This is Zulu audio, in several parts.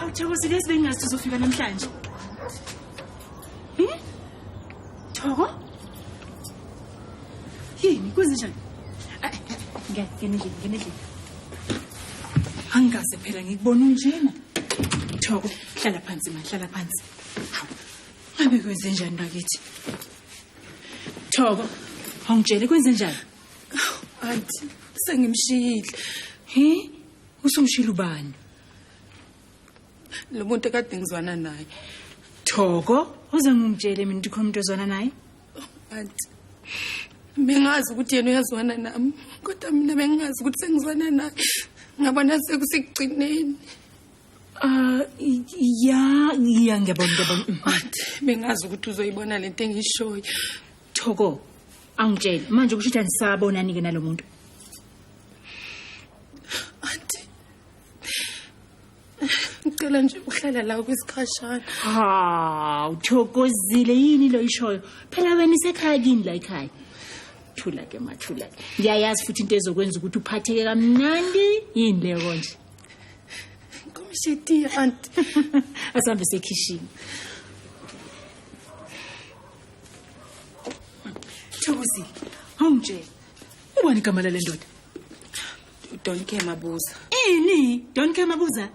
Awuthokozile izibengazi uzofika namhlanje. Thoko? Yini kwenzenjani? Ay, ay, Ngeke ngene endlini, ngene endlini. Angikaze phela ngikubona unjena. Thoko, hlala phansi ma, hlala phansi. Hawu, Ngabe kwenzenjani bakithi? Thoko, awungitshele kwenzenjani? Auntie, sengimshiyile. He? Usumshilo ubani? lo muntu kade ngizwana naye thoko uze ngingitshele mina ukuthi khona umuntu ozwana naye anti bengazi ukuthi yena uyazwana nami kodwa mina bengingazi ukuthi sengizwana naye ngabona sekusekugcineni Uh ya ya ngiyabona ngiyabona anti bengazi ukuthi uzoyibona lento engishoyo thoko angitshele manje kusho ukuthi anisabonani-ke nalo muntu ngicela nje uhlala la kwisikhashana ha uthokozile yini lo ishoyo phela wena isekhaya kini la ekhaya thula ke mathula ke ngiyayazi futhi into ezokwenza ukuthi uphatheke kamnandi yini leyo konje komshitiya anti asambe sekhishini thokozile awungitshela ubani igama lale ndoda don't care mabuza ini don't care mabuza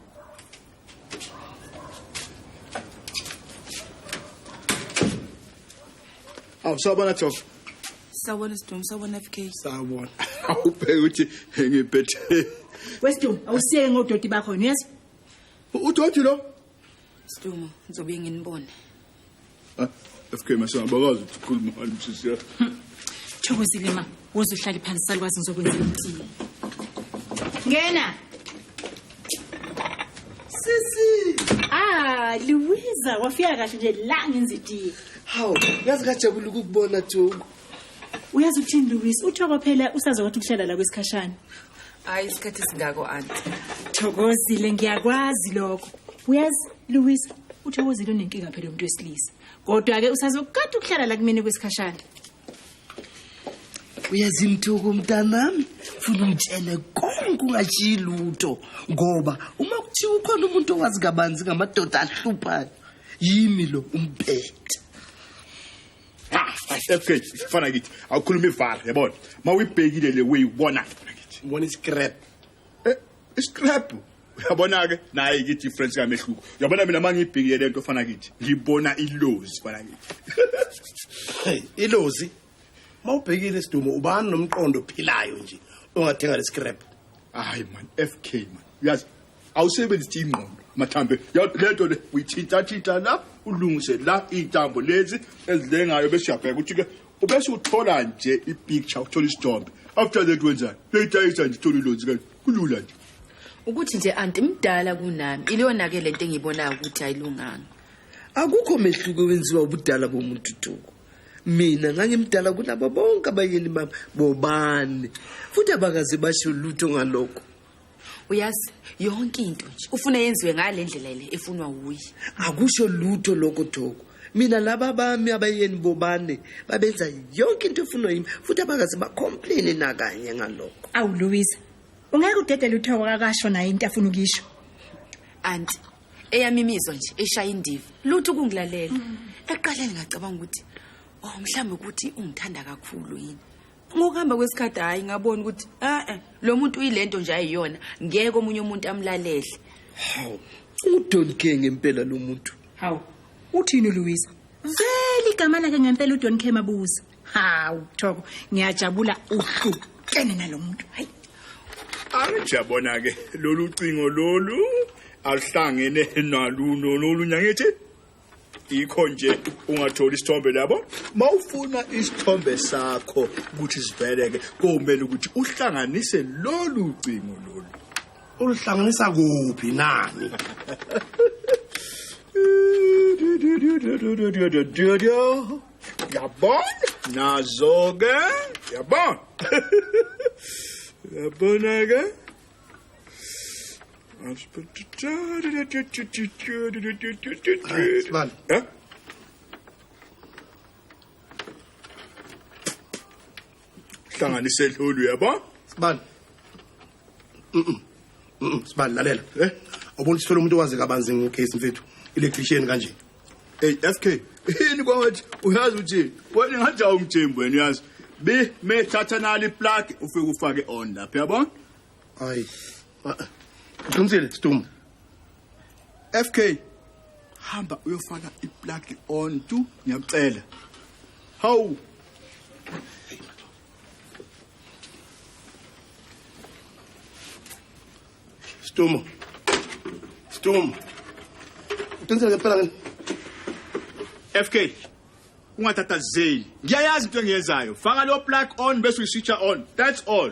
awu sawubona thofu sawubona sidum sawubona fk sawubona awubheke ukuthi ngiphethe wesidum awusiyeke ngodoti bakho niyezwa udoti lo sidum ngizobuye nginibone Ah, FK mase abakazi ukuthi ukhuluma ngani msisi yakho. Thokozile ma, woza uhlale phansi salukwazi ngizokwenza imiti. Ngena. Sisi. Ah, Luiza, wafika kahle nje la ngenza itiye. Hawu, yazi kajabula ukukubona Thoko. Uyazi ukuthini Luiza, uthoko phela usazokwatha ukuhlala la kwesikhashana. hayi isikhathi singako anti thokozile ngiyakwazi lokho uyazi louis uthokozile unenkinga phela umuntu wesilisa kodwa-ke usazokukade ukuhlala la kumina kwesikhashana uyazi mthuku mntanami funa ungitshele konke ungashiyi lutho ngoba uma kuthiwa ukhona umuntu owazi kabanzi ngamadoda ahluphayo yimi lo umpethe fk fana kithi awukhuluma ivala yabona ma uyibhekile le way ubona kithi ubona iscrap eh, iscrap uyabona-ke naye kithi ifrench kamehluko uyabona mina ma ngiyibhekile le nto fana kithi ngibona ilozi fana kithi ilozi ma ubhekile isidumo ubani nomqondo ophilayo nje ongathenga le scrap hayi man fk man uyazi awusebenzisi ingqondo mathambe lento le uyithintathinta la ulungise la iy'ntambo lezi ezilengayo bese uyabheka ukuthi-ke ubese uthola nje ipicture uthola isithombe after that wenzani leyidayisa nje uthola ilonzi kanje kulula nje ukuthi nje anti mdala kunami iliyona-ke le nto engiyibonayo ukuthi ayilunganga akukho mehluko wenziwa ubudala bomuntu tuku mina ngangimdala kunabo bonke abayeni bami bobani futhi abakaze basho lutho ngalokho uyazi yonke into nje ufuna yenziwe ngale ndlela le efunwa wuye akusho lutho lokho thoko mina laba bami abayeni bobane babenza yonke into efunwa yimi futhi abakaze bacomplaine nakanye ngalokho awu louisa ungeke udedele uthoko kakasho naye into afuna ukisho anti eyami imizwa nje eshaya indiva lutho ukungilalela eqaleni ngacabanga ukuthi oh mhlawumbe ukuthi ungithanda kakhulu yini ngokuhamba kwesikhathi hhayi ngabona ukuthi a-e lo muntu uyile nto nje ayiyona ngeke omunye umuntu amlalele hawu udonke ngempela lo muntu hawu uthini uluwisa vele igama lakhe ngempela udonke mabuza hawu thoko ngiyajabula uhlukene nalo muntu hayi anjabona ke lolu cingo lolu aluhlangene naluno lolu nyangithi yikho nje ungatholi isithombe labo mawufuna isithombe sakho ukuthi siveleke komele ukuthi uhlanganise lolu cingo lolu uluhlanganisa kuphi nani yabona nazo ke yabona yabona ke Sibali. Eh? Hlanganise lolu yabo. Sibali. Mhm. Mhm. Sibali lalela. Eh? Ubona sithola umuntu owazi kabanzi ngecase mfethu. Electrician kanje. Hey FK, yini kwathi uyazi uthini? Wena ngaja umjembu wena uyazi. Be me thatha nali plug ufike ufake on lapha yabona? Hayi. Uqinisile Stum. FK hamba uyofaka iplug on tu ngiyakucela. Hawu. Stumo. Stumo. Uqinisele ngempela ngini? FK. Ungathathazeli. Ngiyayazi into engiyenzayo. Faka lo plug on bese uyiswitcha on. That's all.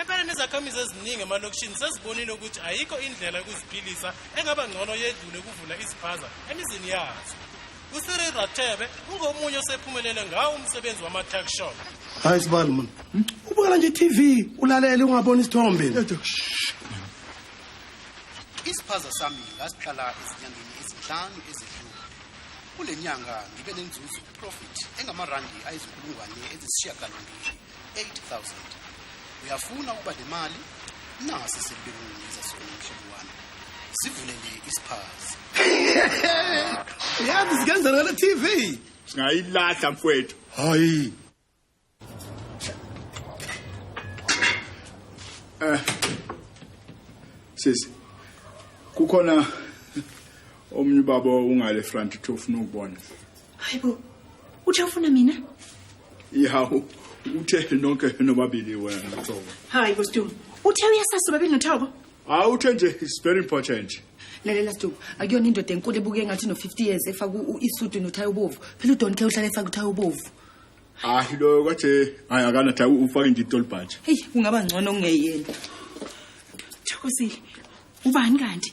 Empeleni izakhamizi eziningi emalokishini sezibonile ukuthi ayikho indlela yokuziphilisa engaba ngcono yedlule ukuvula iziphaza emizini yazo usiri rathebe ungomunye osephumelele ngawo umsebenzi wama-tuck shop hayi sibani mna hmm? ubukela nje i-tv ulalele ungaboni isithombe isiphaza sami ngasiqala ezinyangeni ezinhlanu ezidlule kule nyanga ngibe nenzuzo profit engamarandi ayizinkulungwane ezisishiyagalombili 8000 uyafuna ukuba le mali nasi sibekungeza sona mhlobo wami sivule nje isiphazi yazi sikenza ngale TV singayilahla mfwethu hayi eh sisi kukhona omunye ubaba ungale front to ufuna ukubona hayi bo uthi awufuna mina ihawu uthe nonke nobabili wena thobo hayi bo stum uthe uyasasa ubabili nothobo hawu uthe nje is very important lalela stum akuyona indoda enkulu ebuke ngathi no-50 years efaka isudu nothayi ubovu phela udon ke uhlala efaka uthayi ubovu hayi loyo kwathi hayi akanathi ufake nje itolibhaji heyi kungaba ngcono kungeyena thokozile ubani kanti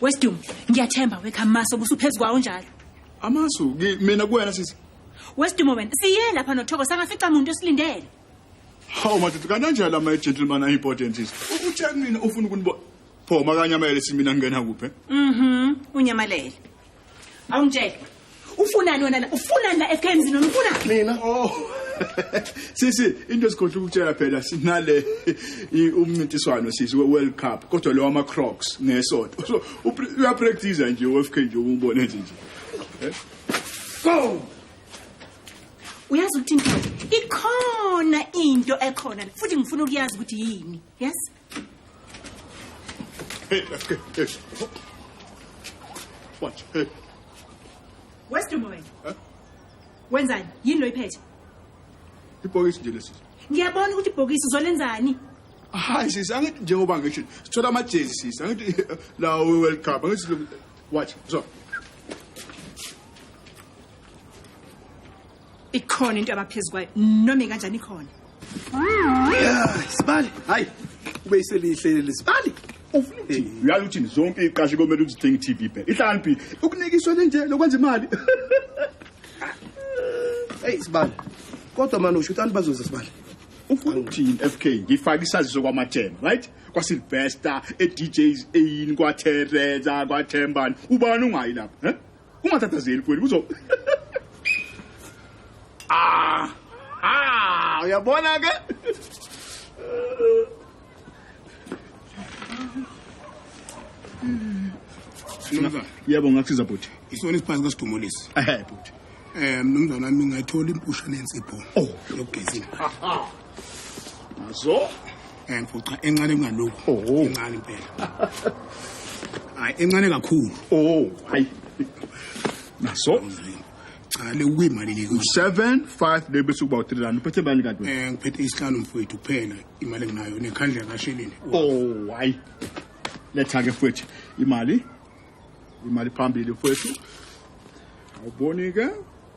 Westum, ngiyathemba wekha maso busuphezulu kwawo njalo. Amasu ki- mina kuwena sisi. Westum wena, siye lapha noThoko sangafica umuntu osilindele. Hawu madoda kananjalo ama gentleman are important sisi. U- Uthe kumina ufuna ukunibona. Pho makanyamele simina ngingena kuphi? Mhm, unyamalele. awungitshele ufunani wena la ufunani la ekhaya emzini wena ufunani mina oh sisi into esikhohle ukutshela phela sinale i- umncintiswano sisi we-world cup kodwa lo wama-crocs ngesonto so upr- uyapractisa nje ufk nje ubone nje nje Eh? go uyazi ukuthi into ikhona into ekhona la, futhi ngifuna ukuyazi ukuthi yini yes Hey, let's go. Hey. Watch. Hey. Where's the moment? Huh? Wenzani? Yini lo iphethe? Ibhokisi nje lesi. Ngiyabona ukuthi ibhokisi uzolenzani? Hayi sisi, angithi njengoba ngisho. Sithola amajezi sisi. Angithi la World Cup. Angithi watch. So. ikhona into abaphezu kwayo noma ikanjani ikhona sibali hayi ube iselihle lesibali uyazi uthini zonke iqashe komele uzithenga i-tv bhe ihlaniphi ukunikiswa lenje lokwenza imali eyi sibali kodwa mani usho ukuthi anibazoza sibali ufuna ukuthini f k ngifake isaziso kwamathemba right kwasilvester edjs eyini kwatereza kwathembani ubani ungayi lapho um ungathathazeli mfowethu kuzo ah ah uyabona ke Mnumzane, yebo ngakusiza bhuti isona isiphansi kasidumulisi ehe bhuti um mnumzane wami ngathola impusha nensipho yokugezini Mazo. Eh mfuqa encane kungalokho. Oh. Incane impela. Hayi encane kakhulu. Oh, hayi. Mazo. Cha le kuyimali le. 7 5 le bese kuba u3 rand. Uphethe imali kanti wena? Eh ngiphethe isihlanu mfowethu kuphela imali enginayo nekhandla kasheleni. Oh, hayi. Letha ke mfowethu imali. Imali phambili mfowethu. Awuboni ke?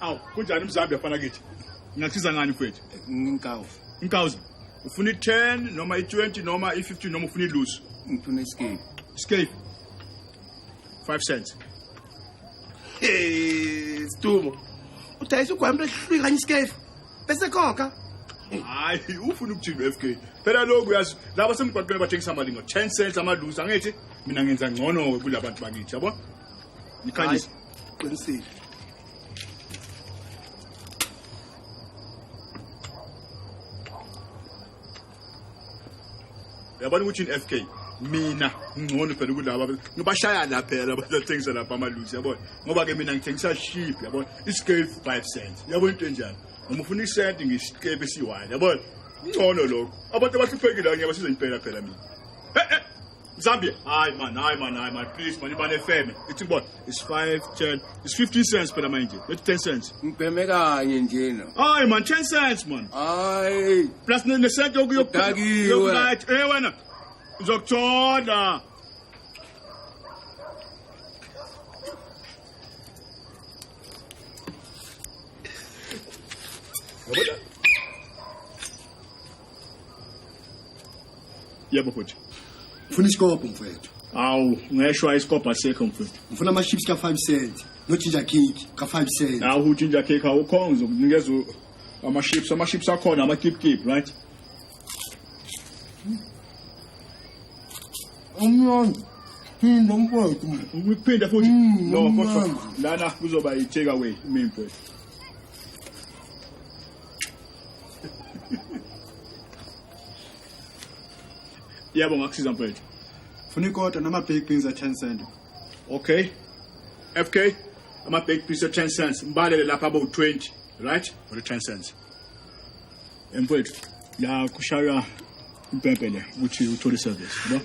awu kunjani umzambi yafana kithi ngingakuthiza ngani mfethu Inkawu. inkawuza ufuna i-10 noma i-20 noma i-15 noma ufuna ilusi Ngifuna iskini. scape 5 cents Eh, Stumo. Udayisa ugwambe ehlwi kanye iskefu. Bese khokha. hayi ufuna ukuthini u-f k phela lokhu uyazi laba semgwaqweni bathengisa amalingo 10 cents amalusi angithi mina ngenza ngcono-ke kula bantu bakithi yabo Ngikhanyisa. Qinisile. Yabona ukuthi in FK mina ngcono phela kulaba ngibashaya la phela abathengisa lapha amaluzi yabona ngoba ke mina ngithengisa sheep yabona iscale 5 cents yabona into enjalo noma ufuna isent ngisikepe siwani yabona ngcono lokho abantu abahluphekile ngiyabasiza impela phela mina Zambia. Hi man, hi man, hi man. Please man, ibane feme. It's what? It's 5, 10, it's 15 cents per mind. It's 10 cents. Ngibheme kanye nje no. Hi man, 10 cents man. Hi. Plus ne ne cent yoku yoku. Dagi. Yoku right. Eh wena. Zokuthola. What? yebo bhuti ngifuna isikobho mfowethu awu ngeshwa isikobho asekho mfowethu ngifuna ama-ships ka-five cent no-ginger cake ka-five cent awu uginger cake awukhonga ngizokunikeza u- ama-ships ama-ships akhona ama-kipkip right umnandi phinda mfowethu mina ukuphinde futhi Mm, no kodwa umnandi. lana kuzoba yi-take away mini mfowethu Yebo ngakusiza mfethu. Funa ikota nama baked beans a 10 cent. Okay. FK ama baked beans a 10 cents. Mbalele lapha abo 20, right? For the 10 cents. Mfethu, la kushaywa impempe le ukuthi uthole service, yebo?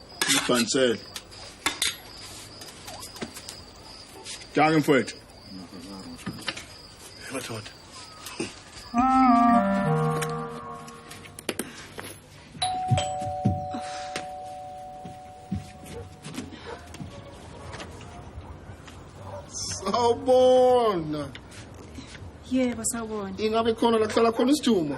Ibhansele. Danke mfowethu. Madoda. Sawubona. Yebo sawubona. Ingabe khona la kuhlala khona isijuma?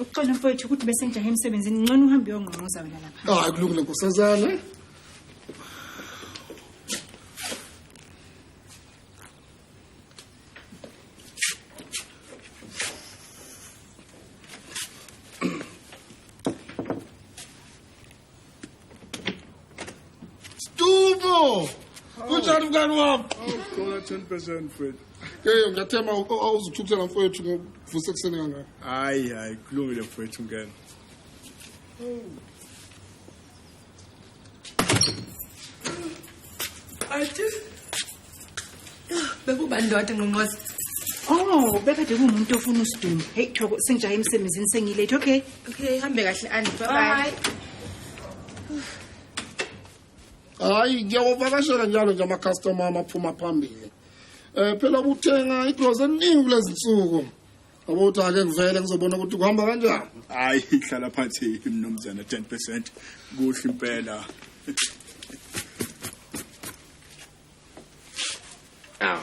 ukuxola mfowethu ukuthi bese ngijahe emsebenzini ngcono uhambe uyongqongqoza wena lapha hayi kulungile nkosazana Stubo! Kunjani mngani wami? Awukhona 10% mfethu. Hey, ngiyathemba awuzithukuthela mfethu ngokuvuse kuseni kangaka. Hayi, hayi, kulungile mfethu ngena. Athi bekuba ndoda ngqongqoza Oh, bekade kumuntu ofuna usidumo. Hey, Thoko, sengijaha emsebenzini sengilate. Okay. Okay, hambe kahle Andy. Bye bye. Hayi, ngiyawavakashela njalo nje ama customer amaphuma phambili. Eh phela ubuthenga igrocery eningi kulezi nsuku. Abuthi ake ngivele ngizobona ukuthi kuhamba kanjani. Hayi, hlala phansi mnumzana 10%. Kuhle impela. Aw.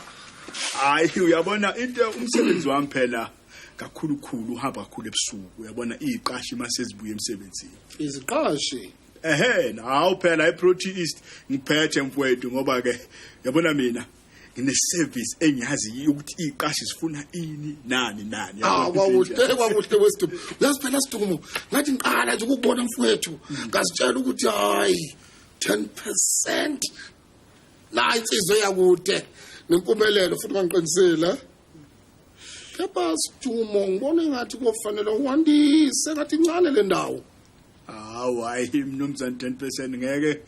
Hayi uyabona into umsebenzi wami phela kakhulukhulu uhamba kakhulu ebusuku uyabona iziqashi mase zibuye emsebenzini. Iziqashi Ehhe hawu phela iProtein East ngiphethe mfowethu ngoba ke yabona mina ngine service engiyazi ukuthi iziqashi zifuna ini nani nani. Ah kwakuhle kwakuhle westumo. Uyazi phela stumo ngathi ngiqala nje ukubona mfowethu. Ngasitshela ukuthi hayi 10% la insizwe yakude nempumelelo futhi mangiqinisile kepha sijumo ngibona engathi kofanele uwandise ngathi incane le ndawo hawu hayi mnumzane 10% ngeke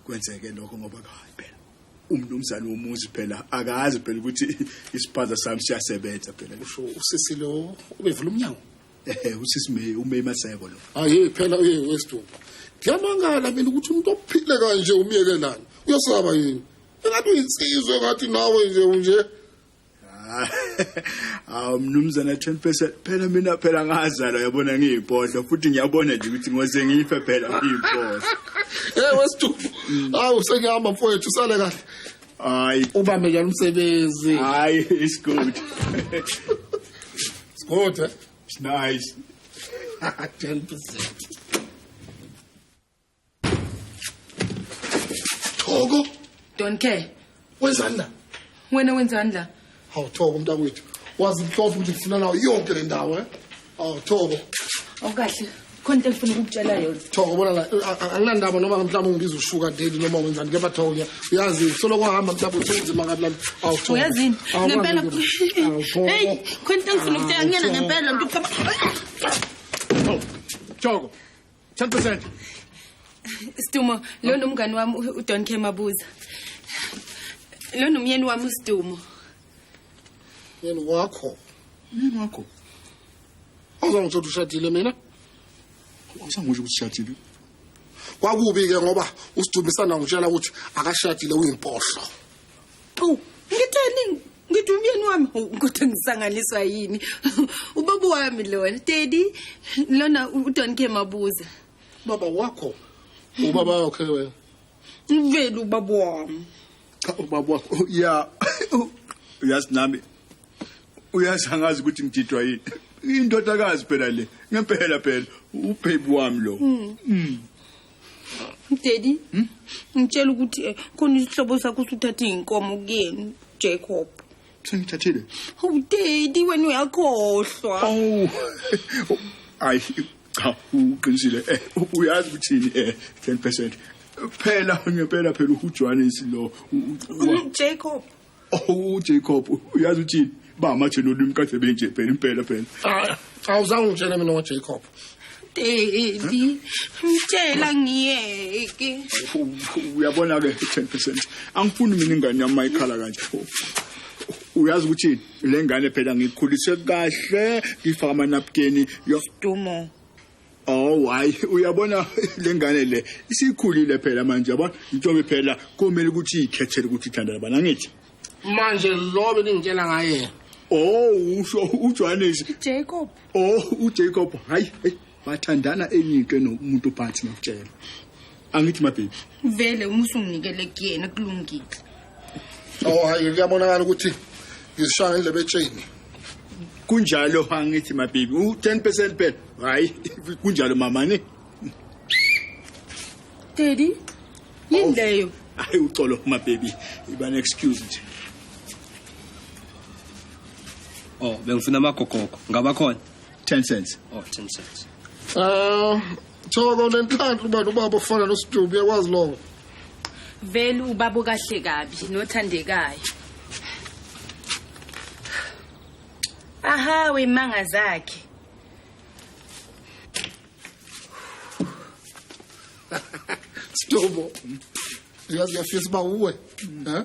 kwenzeke lokho ngoba kayi phela umnumzane womuzi phela akazi phela ukuthi isiphaza sami siyasebenza phela usisi lo ubevula umnyango Eh, usisi May uMay Maseko lo. Hayi phela uye wesithupha. Ngiyamangala mina ukuthi umuntu ophile kanje umyekelana. Uyasaba yini? Engathi uyinsizwe ngathi nawe nje unje. Ah, awu mnumzana 10% phela mina phela ngazalwa yabona ngiyipodla futhi ngiyabona nje ukuthi ngoze ngife phela ngiyipodla. Eh wesithupha. Awu sengihamba mfowethu sale kahle. Hayi. Ubambe njalo umsebenzi. Hayi, it's good. it's good. Eh? It's nice. 10%. Thoko. Don't care. Wenzani la? Wena wenzani la? Hawu Thoko mntakwethu. Wazi mhlofu ukuthi ngifuna nawo yonke le ndawo eh. Hawu Thoko. Awukahle. Khona into engifuna ukukutshela yona. Thoko bona la anginandaba noma mhlawumbe ungibiza ushuka daddy noma wenzani kepha Thoko ngiya uyazi solo kwahamba mhlawumbe uthunzima ngathi lami. Hawu Thoko. Uyazini ngempela. Hey khona into engifuna ukutshela ngiyena ngempela mntu. Thoko. 10%. Sidumo, lo nomngani wami uDon K Mabuza. Lo nomyeni wami uSidumo. Yena wakho. Yini wakho? Awuzangithola ukuthi ushadile mina? Awusangisho ukuthi ushadile. Kwakubi ke ngoba uSidumo isana ngitshela ukuthi akashadile uyimpohlo. Qhu, ngitheni? ngithi umyeni wami kodwa ngisanganiswa yini ubaba wami lona daddy lona udon ke mabuza baba wakho ubaba wakhe wena ngivele ubaba wami cha ubaba wakho oh, ya uyazi nami uyazi angazi ukuthi ngididwa yini indodakazi phela le ngempela phela ubhebi wami lo mm. Mm. Daddy. Hmm? Ngitshela ukuthi eh, khona isihlobo sakho usuthatha izinkomo kuyena Jacob. Sengithathile. Oh daddy wena uyakhohlwa. Oh. Ay cha uqinisile eh uyazi ukuthini eh 10% phela ngempela phela uJohannes lo Jacob Oh Jacob uyazi uthini ba mathe lolimi kade benje phela impela phela. Ah awuzange ungitshele mina ngoJacob. Daddy, ngitshela ngiyeke. Uyabona ke 10%. Angifuni mina ingane yami mayikhala kanje. Uyazi ukuthi le ngane phela ngikhulise kahle ngifaka amanapkeni. Dumo. Oh why uyabona lengane le isikhulile phela manje yabona intombi phela kumele ukuthi ikhethele ukuthi ithanda labana ngithi manje lo beningitshela ngaye oh usho uJohannes Jacob oh uJacob hayi hey bathandana enye into nomuntu phansi ngakutshela angithi mababy vele uma usunginikele kuyena kulungile oh hayi kuyabonakala ukuthi ngizishaya ngendlebe etsheni kunjalo angithi mababy u-10 percent phela hhayi kunjalo mamani daddy yini oh. leyo hayi uxolo mababy iba ne-excuse nje oh bengifuna amagogogo ngabakhona 10 cents oh 10 cents ah thoko lenhlanhla ubani ubaba ofana nosidubu uyakwazi lokho vele ubaba kahle kabi nothandekayo aha wemanga zakhe Stobo. Uyazi uyafisa uba uwe. Eh?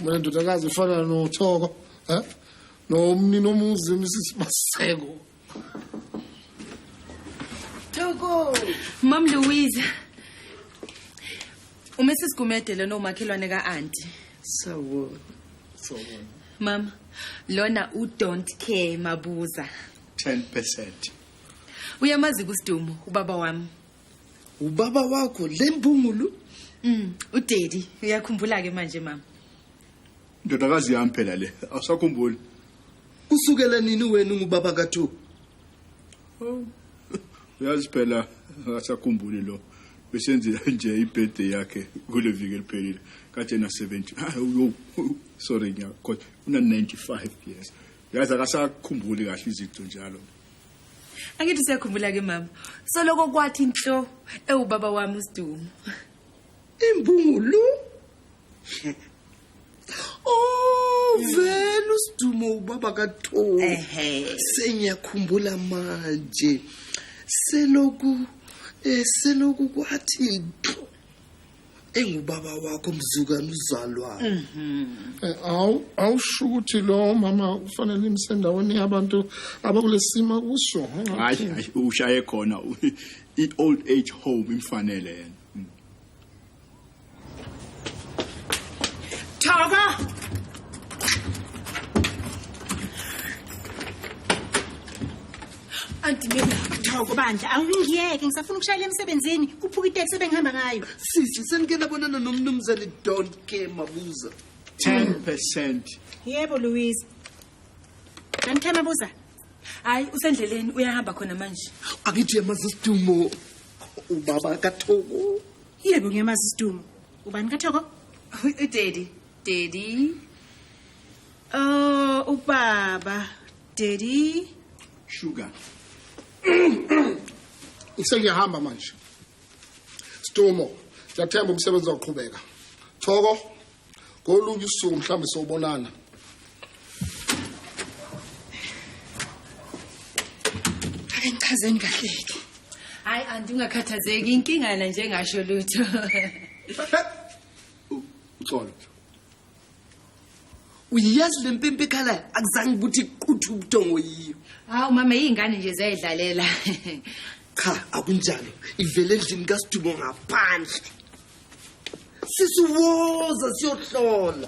Mina ndodakazi ifana nothoko. Eh? No mnini omuzi Mrs Maseko. Thoko. Mam Louise. Uma sisigumede lona umakhelwane ka-anti. Sawo. Sawo. Mama, lona u don't care mabuza. 10%. Uyamazi kusidumo ubaba wami. ubaba wakho le mbungulu Mm, udaddy uyakhumbula ke manje mama. Ndodakazi yami phela le, awusakhumbuli. Kusukela nini wena ungubaba kaThu? Oh. Uyazi phela akasakhumbuli lo. Besenzile nje ibirthday yakhe kule viki eliphelile. Kade na 70. Ah, uyo. Sorry nya, kodwa una 95 years. Yazi akasakhumbuli kahle izinto njalo. angithi usiyakhumbula ke mama soloko kwathi nhlo ewubaba wami usidumo imbungulu Oh vele usidumo ubaba kaTholi. Ehhe. Sengiyakhumbula manje. Seloku eh seloku kwathi engubaba wakho mzukane uzalwane mhm. eh, awu awusho ukuthi lo mama ufanele imsendaweni yabantu abakulesima kuso hayi hayi ushaye khona i old age home imfanele yena hmm. Thaka Anti mina ngithoko bandla awungiyeke ngisafuna ukushayela emsebenzini kuphuka iteksi ebengihamba ngayo. Sisi senike labonana nomnumzane don't care mabuza. 10%. Yebo Louise. Ngithema mabuza. Hayi usendleleni uyahamba khona manje. Angithi yamazi isidumo ubaba kaThoko. Yebo ngiyamazi isidumo. Ubani kaThoko? Udaddy. Daddy. Oh ubaba. Daddy. Sugar. Ngisengiyahamba manje. Stumo, ngiyathemba umsebenzi uzoqhubeka. Thoko, ngolunye usuku mhlawumbe sobonana. Ake ngichazeni kahle ke. Hayi anti ungakhathazeki inkinga yena njengasho lutho. Uxolo. uyazi le mpimpi ekhalayo akuzange ukuthi iquthe ubuthongo yiyo hawu mama iy'ngane nje ziyayidlalela cha akunjalo ivele endlini kasidumo ngaphandle sisiwoza siyohlola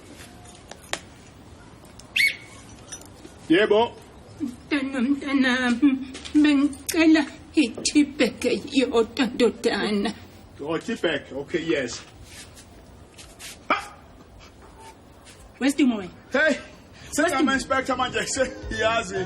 Yebo. Mntana mntana bengicela i-tibag yodwa ndodana. Oh, tibag. Okay, yes. Ha! Wesimo wena. Hey, sengama-inspector manje, seyazi.